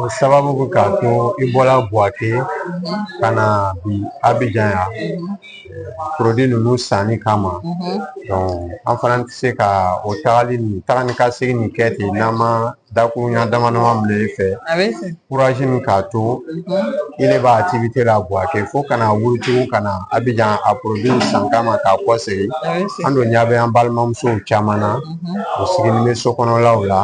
O sababu bɛ k'a to i bɔra Buwake ka na bi Abijan yan porodi ninnu sanni kama an fana tɛ se ka o tagali nin taga ni ka segin nin kɛ ten n'an ma dakuruɲa dama dama mina i fɛ kurazi min k'a to i le bɛ aktivite la Buwake fo ka na wuli tugun ka na Abijan a porodiw san kama ka kɔsegin an dun ɲɛ bɛ an balimamusow caman na u sigilen bɛ so kɔnɔlaw la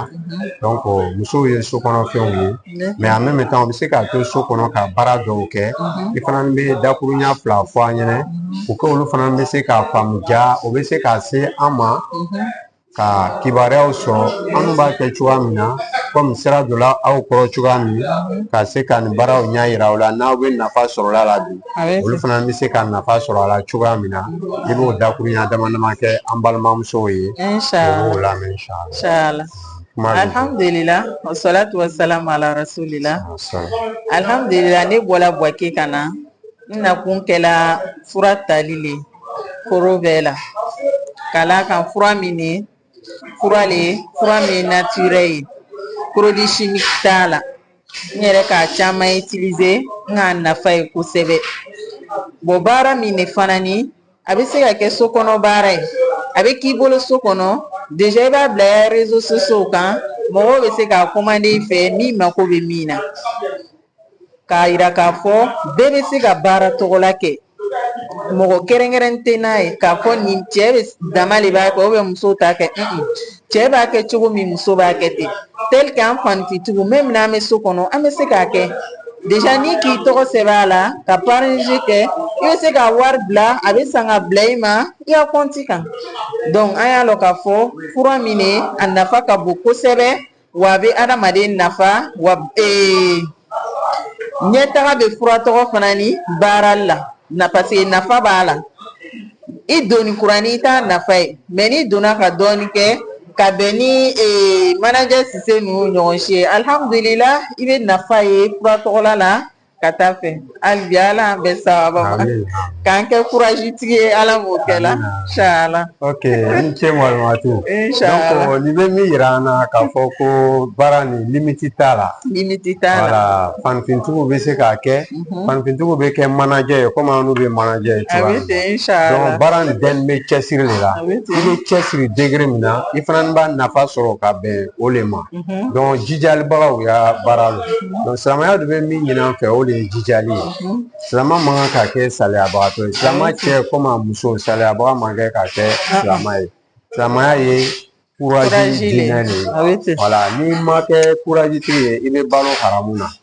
musow ye so kɔnɔ fɛnw ye mais en même temps u bɛ se k'a to so kɔnɔ ka baara dɔw kɛ i fana bɛ dakuruɲa fila fɔ an ɲɛna u ka olu fana bɛ se k'a faamu ja u bɛ se ka se an ma ka kibaruyaw sɔrɔ an b'a kɛ cogoya min na kɔmi sira donna aw kɔrɔ cogoya min ka se ka nin baaraw ɲɛ yira aw la n'aw bɛ nafa sɔrɔ a la bi olu fana bɛ se ka nafa sɔrɔ a la cogoya min na i b'o dakurunya dama dama kɛ an balimamusow ye o la alihamudulila wasalatu wasalamu ala rasulila alihamudulila ne bɔla buwake ka na n nakun kɛla fura tali le koro bɛɛ la ka d'a kan fura min ni fura de ye fura min ye natirɛ ye porodi shimiki t'a la n yɛrɛ k'a caman itilize n k'a nafa ye kosɛbɛ bɔn baara min ne fana ni a bɛ se ka kɛ so kɔnɔ baara ye a bɛ k'i bolo so kɔnɔ deja i b'a bila i ya rezo sosiyow kan mɔgɔw bɛ se k'a komande i fɛ min mako bɛ min na k'a yira k'a fɔ bɛɛ bɛ se ka baara tɔgɔla kɛ mɔgɔ kɛrɛnkɛrɛn tɛ n'a ye k'a fɔ nin cɛ bɛ dama de b'a kɛ ubiyɛn muso t'a kɛ cɛ b'a kɛ cogo min muso b'a kɛ ten tɛlike an fanifintigiw mɛmu n'an bɛ so kɔnɔ an bɛ se k'a kɛ deja ni k'i tɔgɔ sɛbɛn a la ka parɛnazi kɛ i bɛ se ka wari bila a bɛ san ka bila i ma i ka kɔnti kan dɔnku an y'a lɔn k'a fɔ fura min ne a nafa ka bon kosɛbɛ Wa a bɛ adamaden nafa wa ee ɲɛtaga bɛ fura tɔgɔ fana ni baara la na parce que nafa b'a la i donni kuranin i t'a nafa ye mɛ n'i donna ka dɔɔnin kɛ ka bɛn ni ee manajɛ sise ninnu ɲɔgɔn si ye alihamudulila i bɛ nafa ye fura tɔgɔla la ka taa fɛ hali bi ala an bɛ sababa ma k'an kɛ kuraji tigi ye ala b'o kɛ inshala ok i ni ce malimatu donc nin bɛ min yira an na k'a fɔ ko baara nin limiti t'a la limiti t'a la wala fanifintigiw bɛ se k'a kɛ mhm. fanifintigiw bɛ kɛ manajɛ ye komi anw bɛ manajɛ ye cogoya min na donc baara nin bɛɛ bɛ cɛsiri de la i bɛ cɛsiri degere min na i fana b'a nafa sɔrɔ ka bɛn o de ma donc jijalibagaw y'a baara la donc silamɛya de bɛ min ɲin'an fɛ o de ye jijali ye silamɛ man kan ka kɛ saliyabagatɔ ye silamɛ cɛ komi a muso saliyabaga man kan ka kɛ silamɛ ye silamɛya ye kurazi diinɛ de ye wala n'i ma kɛ kurazitigi ye i bɛ balo haramu na